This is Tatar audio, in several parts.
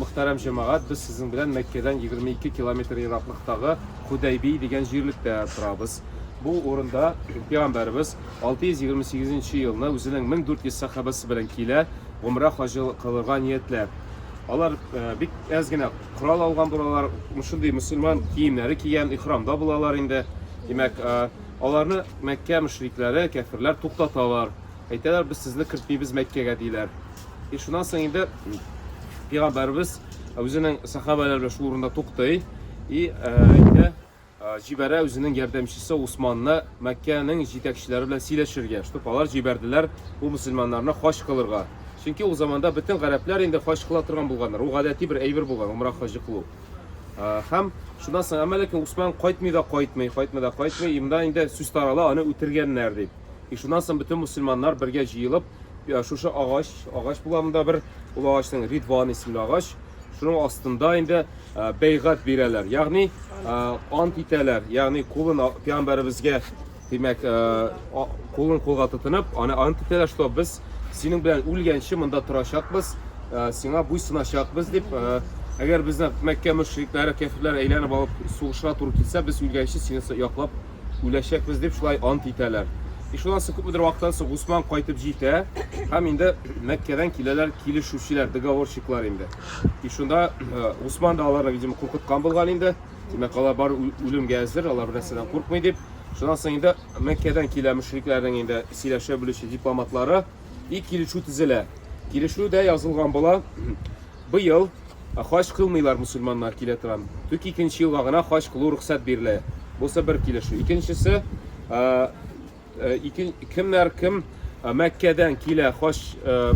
Мөхтәрәм җәмәгать, без сезнең белән Мәккәдән егерме ике километр ераклыктагы Худәйби дигән җирлектә торабыз. Бу урында Пәйгамбәребез алты йөз егерме сигезенче елны үзенең мең дүрт йөз сәхабәсе белән килә, гомрә хаҗы кылырга ниятләп. Алар э, бик әз генә корал алган булалар, шундый мөселман киемнәре кигән, ихрамда булалар инде. Димәк, э, аларны Мәккә мөшрикләре, кәфирләр туктаталар. Әйтәләр, без сезне кертмибез Мәккәгә, диләр. И шуннан соң инде пигамбәрбез үзенең сахабалары белән шул урында туктый и әйтә җибәрә үзенең ярдәмчесе Усманны Мәккәнең җитәкчеләре белән сөйләшергә, чтобы алар җибәрделәр бу мусульманнарны хаҗ кылырга. Чөнки ул заманда бөтен гарәпләр инде хаҗ кыла торган булганнар. Ул гадәти бер әйбер булган, умра хаҗы кылу. Һәм шуннан соң әмма ләкин Усман кайтмый да кайтмый, кайтмый да кайтмый, имда инде сүз тарала, аны үтергәннәр дип. И шуннан соң бөтен мусульманнар бергә җыелып, шушы агач, агач була монда бер, ул агачның Ридван исемле агач, шуның астында инде бәйгать бирәләр, ягъни ант итәләр, ягъни кулын пиамбәребезгә, димәк, кулын кулга тотынып, аны ант итәләр, что без синең белән үлгәнче монда торачакбыз, сиңа буйсыначакбыз дип, әгәр безне Мәккә мөшрикләре, кәфирләр әйләнеп алып сугышырга туры килсә, без үлгәнче сине яклап үләчәкбез дип шулай ант итәләр. И шуннан соң күпмедер вакыттан соң Госман кайтып җитә һәм инде Мәккәдән киләләр килешүчеләр, договорщиклар инде. И шунда Госман да аларны, видимо, куркыткан булган инде. Димәк, алар бар үлемгә әзер, алар бернәрсәдән куркмый дип. Шуннан соң инде Мәккәдән килә мөшрикләрнең инде сөйләшә белүче дипломатлары и килешү төзелә. Килешүдә язылган була, Быел хаҗ кылмыйлар мөселманнар, килә торам. Түк икенче елга гына хаҗ кылу рөхсәт бирелә. Бусы бер килешү. Икенчесе, ике кемнәр кем Мәккәдән килә хаҗ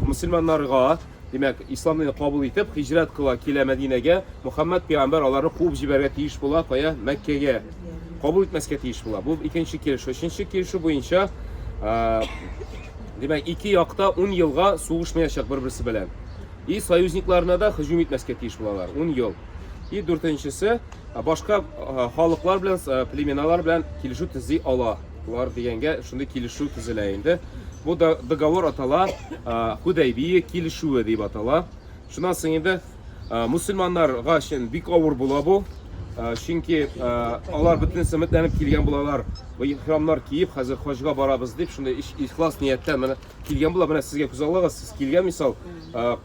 мөселманнарга, димәк, ислам динен кабул итеп, хиҗрәт кыла, килә Мәдинәгә, Мөхәммәд пәйгамбәр аларны куып җибәрергә тиеш була, кая? Мәккәгә. Кабул итмәскә тиеш була. Бу икенче килешү. Өченче килешү буенча, димәк, ике якта 10 елга сугышмаячак бер-берсе белән. и союзникларына да һөҗүм итмәскә тиеш булалар. Ун ел. И дүртенчесе, башка халыклар белән, племеналар белән килешү төзи алалар дигәнгә шундый килешү төзелә инде. Бу договор атала Худайбия килешүе дип атала. Шуннан соң инде мусульманнарга өчен бик авыр була бу. Чөнки алар бөтен сәмәтләнеп килгән булалар. Бу ихрамнар киеп, хәзер хаҗга барабыз дип, шундый ихлас нияттән Килгән була, менә сезгә күз аллыгыз, сез килгән мисал,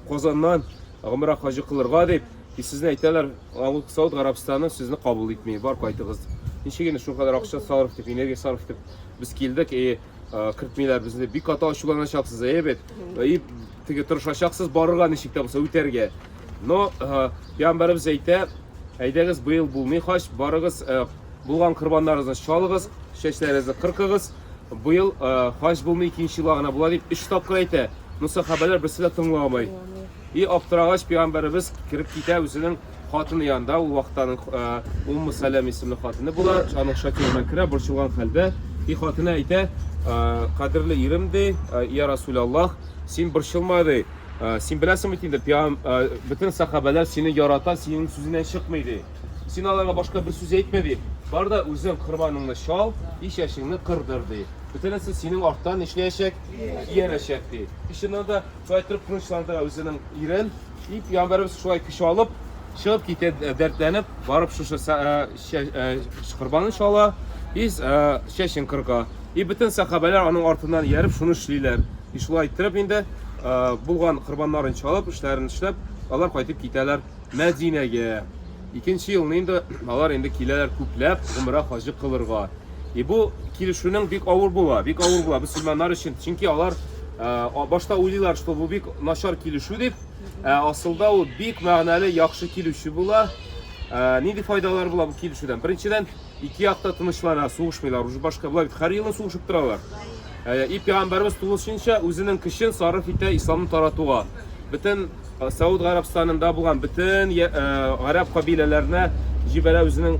Казаннан гомрә хаҗы кылырга дип, и сезне әйтәләр, Авыл Сауд Гарабстаны сезне кабул итми, бар кайтыгыз дип. Ничек инде шул кадәр акча сарыф итеп, энергия сарыф итеп без килдек, и кертмиләр безне. Бик каты ачуланачаксыз, әйе бит? И теге тырышачаксыз барырга ничек тә булса үтәргә. Но пәйгамбәребез әйтә, әйдәгез быел булмый хаҗ, барыгыз Булган корбаннарыгызны чалыгыз, чәчләрегезне кыркыгыз. Быел э, хаҗ булмый, икенче елга гына була дип өч тапкыр әйтә. Ну сахабәләр берсе дә тыңламый. И аптырагач пәйгамбәребез кереп китә үзенең хатыны янында, ул вакытта аның э, Умму Сәләм исемле хатыны була, аның шакирына керә, борчылган хәлдә. И хатыны әйтә, «Э, кадерле ирем ди, э, я Расул Аллах, син борчылма ди. Э, Син беләсең бит инде, пәйгам- э, бөтен сахабәләр сине ярата, синең сүзеннән чыкмый ди. Син аларга башка бер сүз әйтмә, ди. Бар да үзең корбаныңны чал, и чәчеңне кырдыр, ди. Бөтенесе синең арттан нишләячәк? Иярәчәк, ди. И чыннан да, шулай торып тынычландыра үзенең ирен. И пәйгамбәребез шулай көч алып, чыгып китә ә, дәртләнеп, барып шушы са- ә, чә- ә, корбанын чала, и с- ә, чәчен кырга. И бөтен сәхабәләр аның артыннан ияреп шуны эшлиләр. И шулай иттереп инде, ә, булган корбаннарын чалып, эшләрен эшләп, алар кайтып китәләр. Мәдинәгә. Икенче елны инде алар инде киләләр күпләп гомрә хаҗы кылырга. И бу килешүнең бик авыр була, бик авыр була мөселманнар өчен. Чөнки алар ә, башта уйлыйлар, что бу бик начар килешү дип. Ә асылда ул бик мәгънәле, яхшы килешү була. Ә, нинди файдалар була бу килешүдән? Беренчедән, ике якта тынычлана, сугышмыйлар. Уже башка болар бит һәр елны сугышып торалар. Ә, и пәйгамбәрбез тулысынча үзенең көчен сарыф итә исламны таратуга. Бөтен Сауд Гарәбстанында булган бөтен гарәп кабиләләренә җибәрә үзенең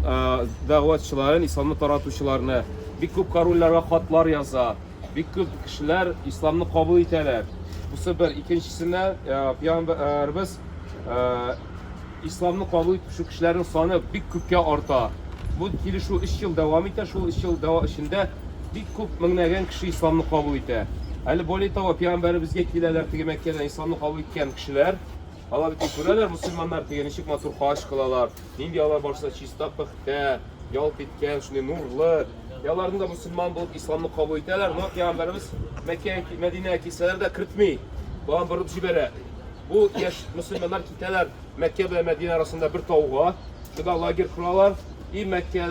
дәгъватчыларын, исламны таратучыларны. Бик күп корольләргә хатлар яза. Бик күп кешеләр исламны кабул итәләр. Бусы бер. Икенчесенә пәйгамбәрбез исламны кабул итүче кешеләрнең саны бик күпкә арта. Бу килешү 3 ел дәвам итә. Шул 3 ел дәва эчендә Бик күп, меңнәгән кеше исламны кабул итә. Әле более того, пигамбәребезгә киләләр теге Мәккәдән исламны кабул иткән кешеләр. Алар бит күрәләр мусульманнар теге ничек матур хаҗ кылалар, нинди алар барса чиста, пөхтә, ялт иткән, шундый нурлы. И аларны да мусульман булып исламны кабул итәләр, но пигамбәребез Мәккәгә, Мәдинәгә килсәләр дә кертми. Болан борып җибәрә. Бу яшь мусульманнар китәләр Мәккә белән Мәдинә арасында бер тауга, шунда лагерь коралар. И Мәккә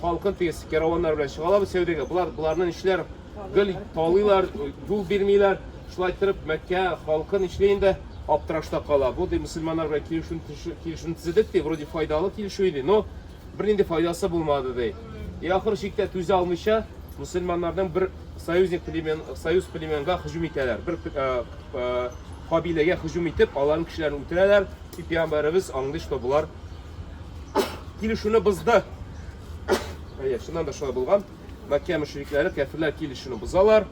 халкы тиз кераваннар белән чыгалар бу сәүдәгә. Болар боларны нишләр? Гел талыйлар, юл бирмиләр. Шулай торып Мәккә халкы нишли инде аптырашта кала. Бу ди мусульманнар белән килешү килешү төзедек ди, вроде файдалы килешү иде, но бернинди файдасы булмады ди. И ахыр чиктә түзә алмыйча мусульманнарның бер союзник племен, союз племенга һөҗүм итәләр. Бер кабиләгә һөҗүм итеп, аларның кешеләрен үтерәләр. И пиамбарыбыз аңлый, что болар килешүне бозды. Әйе, шуннан да шулай булган. Мәккә мөшрикләре, кәфирләр килешүне бозалар.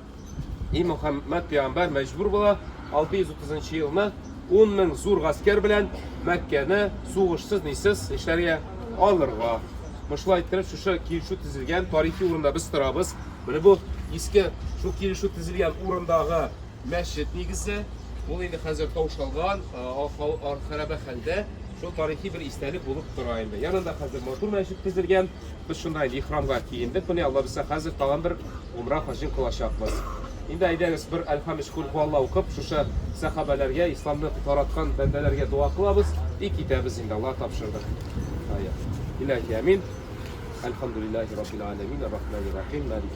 И Мөхәммәд пиамбар мәҗбүр була 630 елны 10 мең зур гаскәр белән Мәккәне сугышсыз нисез нишләргә алырга. Мышлай иттереп шушы килешү төзелгән тарихи урында без торабыз. Менә бу иске шул килешү төзелгән урындагы Мәчет нигезе, ул инде хәзер таушалган, хәрабә хәлдә, шул тарихи бер истәлек булып тора инде. Янында хәзер матур мәчет төзелгән. Без шунда инде ихрамга киендек. Менә Алла бирсә, хәзер тагын бер умра хаҗын кылачакбыз. Инде әйдәгез бер Әл-Хамиш кул хуалла укып, шушы сәхабәләргә, исламны тараткан бәндәләргә дога кылабыз и китәбез инде. Алла тапшырды. Ая. Илаһи амин. Әлхамдулиллахи раббил аләмин, аррахманир рахим, малики